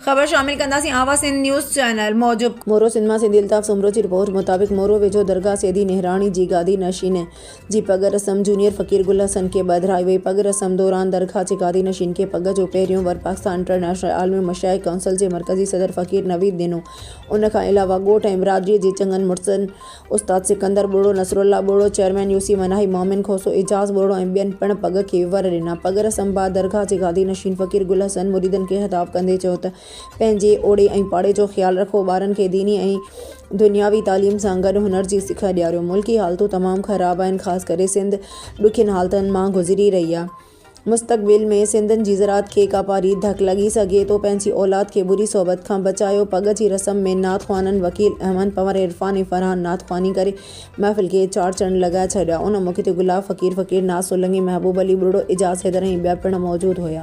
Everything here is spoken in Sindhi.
خبر شامل ڪنداسين آواز سنڌ نيوز چينل موجب. مورو سينما سنڌي الطاف سومرو جي رپورٽ مطابق مورو ويجهو درگاهه سيدي مهراڻي جي گادي نشين جي پڳ رسم جونيئر فقير گل حسن کي ٻڌرائي وئي پڳ رسم دوران درگاهه جي گادي نشين کي پڳ جو پهريون ور پاڪستان انٽرنيشنل عالمي مشائخ ڪائونسل جي مرڪزي صدر فقير نويد ڏنو ان کان علاوه ڳوٺ ۽ برادري جي چڱن مڙسن استاد سڪندر ٻوڙو، نصرالله ٻوڙو، چيئرمين يوسي مناهي، مومن کوسو، اعجاز ٻوڙو ۽ ٻين پڻ پڳ کي وور ڏنا. پڳ رسم بعد درگاهه جي گادي نشين فقير گل حسن مريدن کي خطاب ڪندي چيو ته پنهنجي اوڙي ۽ پاڙي جو خيال رکو، ٻارن کي ديني ۽ دنياوي تعليم سان گڏ هنر جي سک ڏياريو، ملڪي حالتون تمام خراب آهن خاص ڪري سنڌ ڏکين حالتن مان گذري رهي آهي. مستقبل ۾ سنڌين جي زراعت کي ڪاپاري ڌڪ لڳي سگهي ٿو پنهنجي اولاد کي بري صحبت کان بچايو پڳ جي رسم ۾ نعت خوانن وڪيل احمد پنور عرفان ۽ فرحان نعت خواني ڪري محفل کي چار چنڊ لڳائي ڇڏيا ان موقعي تي گلاب فقير فقير نعت سولنگي محبوب علي ٻرڙو اعجاز حيدر ۽ ٻيا پڻ موجود هيا.